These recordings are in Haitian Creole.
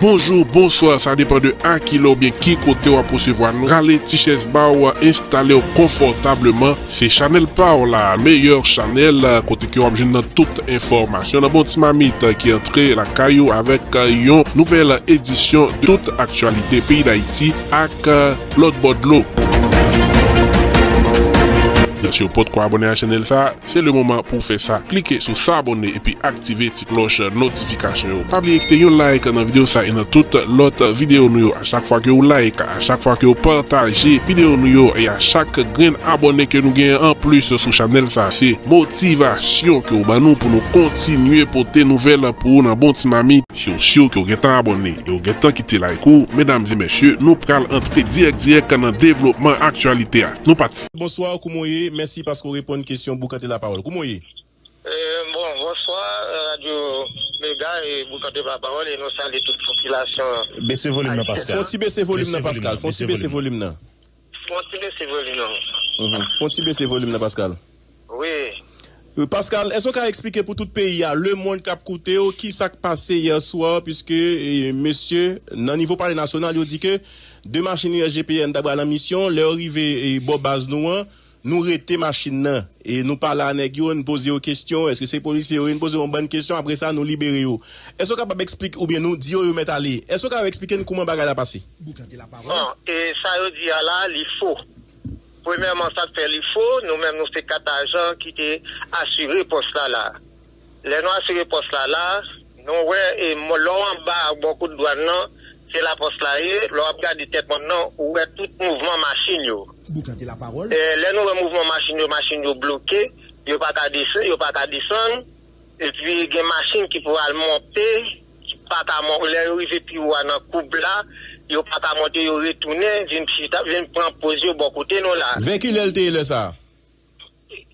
Bonjour, bonsoir sa depan de a ki lè oubyen ki kote wap resevwa nou rale ti chèz baw enstalew konfòtableman se chanèl paw la meyè chanèl kote ke wap jwenn nan tout enfòmasyon nan bon ti mamit ki antre lakay ou avèk yon nouvèl edisyon de tout aktyalite peyi dayiti ak lòt bò dlo. Siw potko abone a chanèl sa Se le moman pou w fè sa. Klike sou Sabone epi aktive ti klòch notifikasyon yo. Pa bliye kite yon like nan video sa e nan tout lòt video nou yo. A chak fwa ke ou like, a chak fwa ke ou pataje video nou yo e a chak grenn abòne ke nou genyen an plis sou chanèl sa se motivasyon ke ou ban nou pou nou kontinye pote nouvèl pou ou nan bon ti mamit. Si ou siw ke ou gentan abòne e ou gentan kite like ou, medam e mesye, nou pral antre dirèk dirèk nan devlopman aktyalite a. Nou pati! Bonsoir kouman w ye? Mèsi paske w. pou reponn kesyon Boukante Lapawòl. Kouman w ye? Bon, bonswa radyo Mega e Boukante Lapawòl e nou salye tout popilasyon ayisyen. Fon ti bese volim nan Paskal. Fon ti bese volim nan. Fon ti bese volim nan. Fon ti bese volim nan Paskal. Wi. Paskal, èske w ka eksplike pou tout peyi a, lemonn k ap koute w, ki sa k pase yè swa piske mesye nan nivo palè nasyonal yo di ke 2 machin USGPN ta pral an misyon, lè yo rive bò baz nou an, Nou rete machin nan e nou pale a nèg yo, n poze yo kesyon, èske se polisye yo ye, n poze yo yon bann kesyon apre sa nou libere yo. Èske w kapab eksplik oubyen nou di yo yo mèt ale. Èske w ka eksplike n kouman bagay la pase? Bon, e sa yo di a la, li fo. Premyèman sa k fè li fo, nou menm nou se 4 ajan ki te asire pòs la la. Lè nou asire pòs la la, nou wè e lè w anba bò kout dwàn nan, se la pòs la ye, lè w ap gade tèt mòn nan, ou wè tout mouvman machin yo. Boukan te lapawòl. Lè nou wè mouvman machin yo, machin yo bloke, yo pa ka desann, yo pa ka desann, epi gen machin ki pou al monte, ki pa ka monte, lè yo rive pi wo a nan koub la, yo pa ka monte, yo retounen vin chita, vin pran poz yo bò kote nou la. Vè ki lè l te ye lè sa a?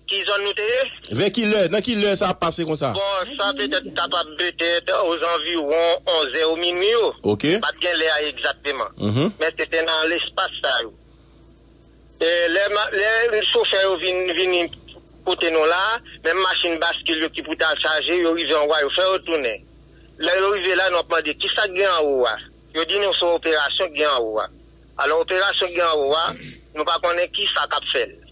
Ki zòn nou te ye? Vè ki lè? Nan ki lè sa ap pase konsa? Bon, sa petèt kapab petèt ozanviwon onzè ou minui yo. Ok. M pa t gen lè a egzakteman. Men se te nan lespas sa yo. E lè chofè yo vin vini kote nou la a, menm machin baskil yo ki pou ta chaje, yo rive anwo a, yo fè yo tounen. Lè yo rive la, nou ap mande, ki sa k gen anwo a? Yo di nou se yon operasyon k gen anwo a. Alò, operasyon k gen anwo a, nou pa konnen ki sa k ap fè l.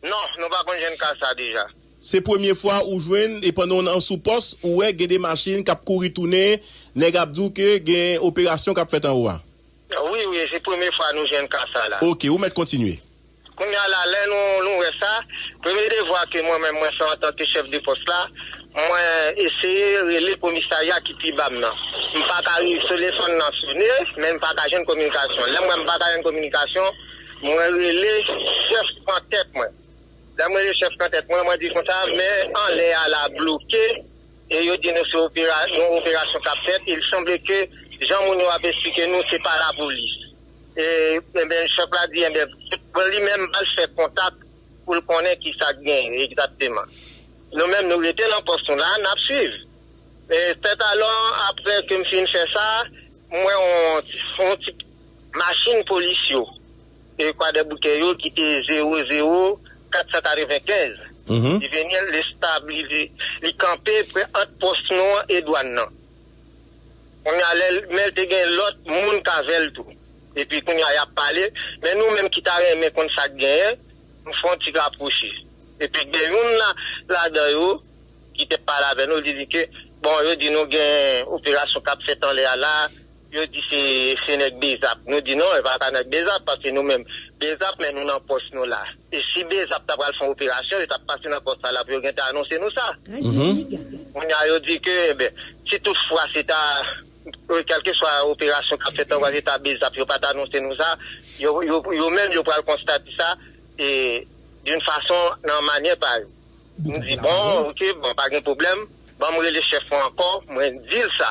Non, nou pa konn jwenn ka sa deja. Se premye fwa ou jwenn e pandan w an sou pòs ou wè gen 2 machin k ap kouri tounen nèg ap di w ke gen operasyon k ap fèt anwo a? Wi, wi, se premye fwa nou jwenn ka sa la. Ok, ou mèt kontinye. Kounye a la, lè nou wè sa, premye devwa ke mwen menm mwen fè antanke chèf de pòs la, mwen eseye rele komisarya ki pi ba m nan. M pa ka rive, telefòn nan sone, men m pa ka jwenn kominikasyon. Lè m wè m pa ka jwenn kominikasyon. Mwen rele chèf antèt mwen. Lè m rele chèf antèt mwen, mwen di konsa, mè anlè a la bloke e yo di nou se yon operasyon k ap fèt. Il sanble ke jan moun yo ap esplike nou, se pa lapolis. Enben, chèf la di, enben, pou li menm al fè kontak pou l konnen ki sa k genyen egzakteman. Nou menm, nou rete nan pòs nou la, n ap swiv. Sètalò, apre ke m fin fè sa, m wè yon ti. Machin polis yo e kwadèboukè yo ki te 0 0 495 Juvéniel Lestabili li kanpe pre ant pòs nou an e dwann nan kounye a lè men l te gen lòt moun k avè l tou epi kounye a y ap pale men nou menm ki ta renmen konn sa k genyen nou fè yon ti rapwoche epi gen youn ladan yo ki te pale avè nou li di ke bon yo di nou gen operasyon k ap fèt anlè a la. Yo di se se nèg Bezap. Nou di non, e pa ta nèg Bezap paske nou menm Bezap men nou nan pòs nou la. E si Bezap ta pral fè yon operasyon, yo tap pase nan pòs sa la pou yo gentan anonse nou sa. Kounye a yo di ke enben, si tout fwa se ta kèlke swa operasyon kap fèt anba se ta Bezap, yo pa ta anonse nou sa. Yo yo menm yo pral konstate sa e d'une façon nan manyè pa yo. Nou di bon, ok, bon pa gen pwoblèm, banm rele chèf mwen ankò, mwen dil sa.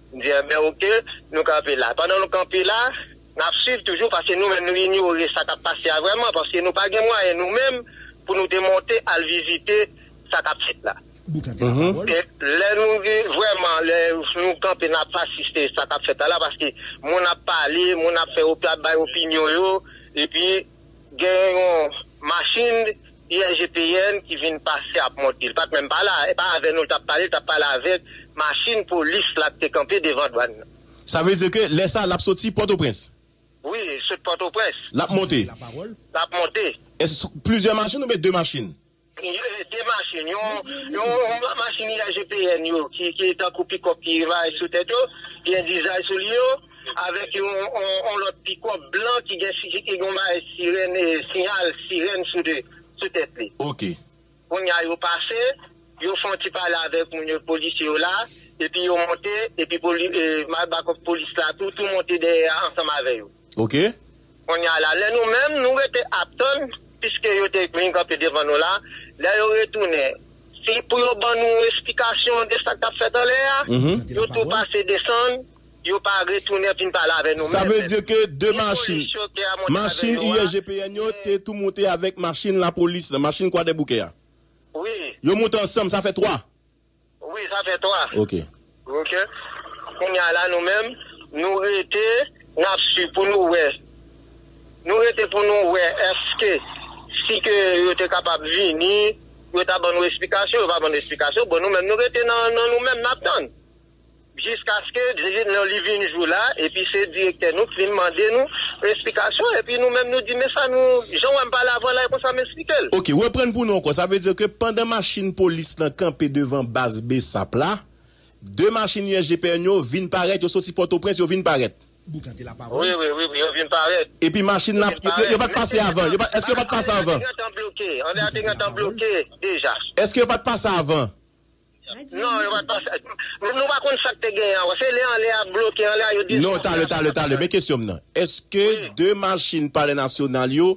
M di enben ok, nou kanpe la. Pandan nou kanpe la, n ap swiv toujou paske nou menm nou inyore sa k ap pase a vrèman paske nou pa gen mwayen nou menm pou nou te monte al vizite sa k ap fèt la. E lè nou vin vrèman lè nou kanpe n ap asiste sa k ap fèt la la paske moun ap pale, moun ap fè ap bay opinyon yo epi gen yon machin Yè GPN ki vin pase ap monte. Li pat menm pa la. E pa avè nou li tap pale, li tap pale avèk machin polis la k te kanpe devan dwann nan. Sa vle di ke lè sa lap soti Pòtoprens? Wi, sot Pòtoprens. Lap monte? Lap monte. Èske se plizyè machin oubyen 2 machin? Ye 2 machin. Yon yon machin yè GPN yo ki tankou pikòp ki va sou tèt yo, gen dizay sou li yo. avèk yon lòt pikòp blan ki gen yon bagay sirèn, siyal sirèn sou tèt li. Ok. Kounye a yo pase, yo fè yon ti pale avèk moun yo, polisye yo la, epi yo monte, epi bakòp polis la tou, tou monte dèyè a ansanm avè yo. Ok. Kounye a la, lè nou menm, nou rete ap tann, piske yo te vin kanpe devan nou la, lè yo retounen, si pou yo ban nou esplikasyon de sa k t ap fèt anlè a, yo tou pase desann. Yo pa retounen vin pale avè nou menm. Sa vle di ke 2 machin, machin IGPN yo te tou moute avèk machin lapolis la, machin Kwadèboukè a? Wi. Yo moute ansanm, sa fè 3? Wi, sa fè 3. Ok. Ok. Kounye a la nou menm, nou rete, n ap swiv pou nou wè, nou rete pou nou wè èske si ke yo te kapab vini, yo ta ban nou esplikasyon, yo pa ban nou esplikasyon, bon nou menm nou rete nan nou menm, n ap tann. Jiskaske lè li vin jou la epi se direktè nou k vin mande nou esplikasyon epi nou menm nou di men sa nou jan wè m pale avan la e konsa m esplike l. Ok, reprann pou nou ankò, sa vle di ke pandan machin polis lan kanpe devan baz bsap la, 2 machin USGPN yo vin parèt, yo soti Pòtoprens yo vin parèt? Wi, wi, wi, yo vin parèt. Epi machin la, yo pa t pase avan? Eske yo pa t pase avan? André a te gentan bloke deja. Eske yo pa t pase avan? Non yo pat pase ak Nou pa konn sak te genyen ankò se lè anlè a bloke anlè a yo dezkonfle Non talè talè talè men kesyon m nan eske de machin palè nasyonal yo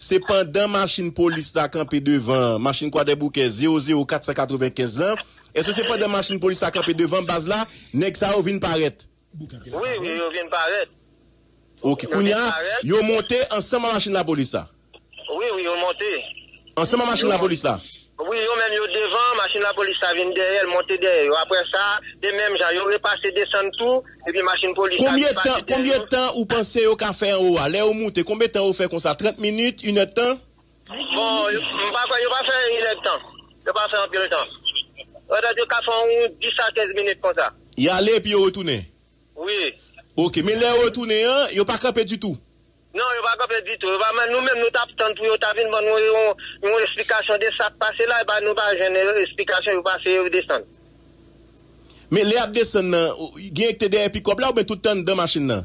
se pandan machin polis la kanpe devan machin kwadèboukè zewo zewo 495 lan eske se pandan machin polis la kanpe devan baz la nèg sa yo vin parèt. Wi, wi, yo vin parèt. Ok, kounye a, yo monte ansanm a machin lapolis la? Wi, wi, yo monte. Ansanm a machin lapolis la? Wi, yo menm yo devan, machin lapolis la vin dèyè, l monte dèyè yo. Apre sa, e menm jan, yo repase desann tou, epi machin polis la repase dèyè yo. Konbyen tan ou panse yo ka fè anwo a? Lè yo moute, konbyen tan yo fè konsa? Trant minit? Inèdtan? Bon, m pa kwè, yo pa fè inèd tan. Yo pa fè anpil tan. Petèt yo ka fè yon 10 a 15 minit konsa. Y ale epi yo retounen? Wi. Ok. Men lè yo retounen an, yo pa kanpe ditou? Non, yo pa kanpe ditou. Nou menm nou t ap tann pou yo ta vin ban nou yon esplikasyon de sa k pase la, epi nou pa jwenn esplikasyon, yo pase yo desann. Men lè y ap desann nan, gen ki te dèyè pikòp la oubyen tout te anndan machin nan?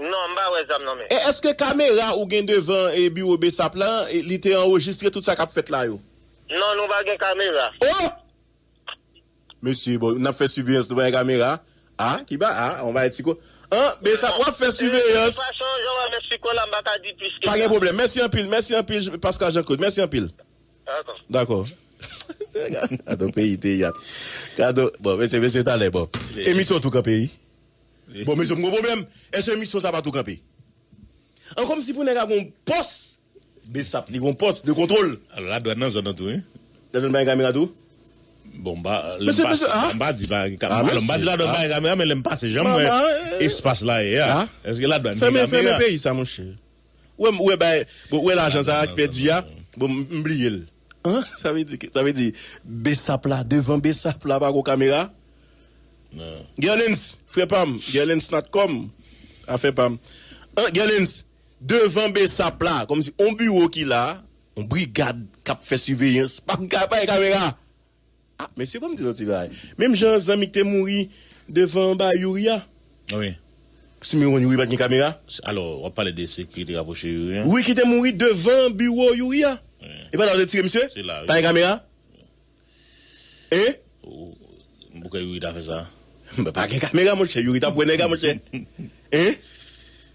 Non mpa wè zam nan men. E eske kamera ou gen devan biwo bsap lan li te anrejistre tout sa kap fèt la yo? Non nou pa gen kamera. Oh! Mesye bon nap fè siveyans nou pa gen kamera ah ki ba ah on bagay ti ko an bsap wap fè siveyans. Bon de fason jan wè mèt Fico la mpa ka di plis ke sa. Pa gen pwoblèm mèsi anpil mèsi anpil Pascal Jean Claude mèsi anpil. Dakò. Dakò. Gadon peyi teyat. Gadon bon mesye mesye talè bon. Emisyon tou kanpe wi. Bon mesye m gon pwoblèm eske emisyon sa pa tou kanpe an komsi pou nèg a gon pòs besap li gon pòs de kontwol. Alò la dwàn nan zòn nan tou wi. La dwàn pa gen kamera tou? Bon m pa Mesye mesye ah. M pa di pa gen kamera alò m pa di la dwàn pa gen kamera men lè m pase janm wè espas la ye a eske la dwàn gen kamera. Fèmen fèmen peyi sa monchè. Ou wè bagay ou wè lajan sa ki pèdi a bon m bliye l. An sa vle di sa vle di besap la devan besap la pa gon kamera nan. Gerlens frè pam Gerlens natcom afè pam an Gerlens devan besap la kòmsi on biwo ki la on brigad kap fè siveyans pa gen kamera. Ah mesye banm di nou ti bagay. Menm jan zanmi ki te mouri devan ba youri a. Wi. Siw te konn youri pat gen kamera. Alò wap pale de sekirite rapwoche youri an. Wi ki te mouri devan biwo youri a. E pa la yo te tire misye. Se la wi. Pa gen kamera. Hein. Mwen pou kwe youri ta fè sa. Pa gen kamera monchè youri tap wè nèg la monchè. Hein.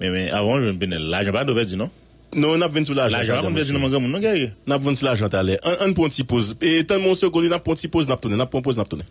Men men avan jwenn penel lajan pa dwe pèdi non. Non nap vin sou lajan talè. Lajan pa konn pèdi non man granmoun non guerrier. Nap vin sou lajan talè. An ann pran yon ti poz. Tann mwen yon segonn wi nap pran yon ti poz nap tounen nap pran yon poz nap tounen.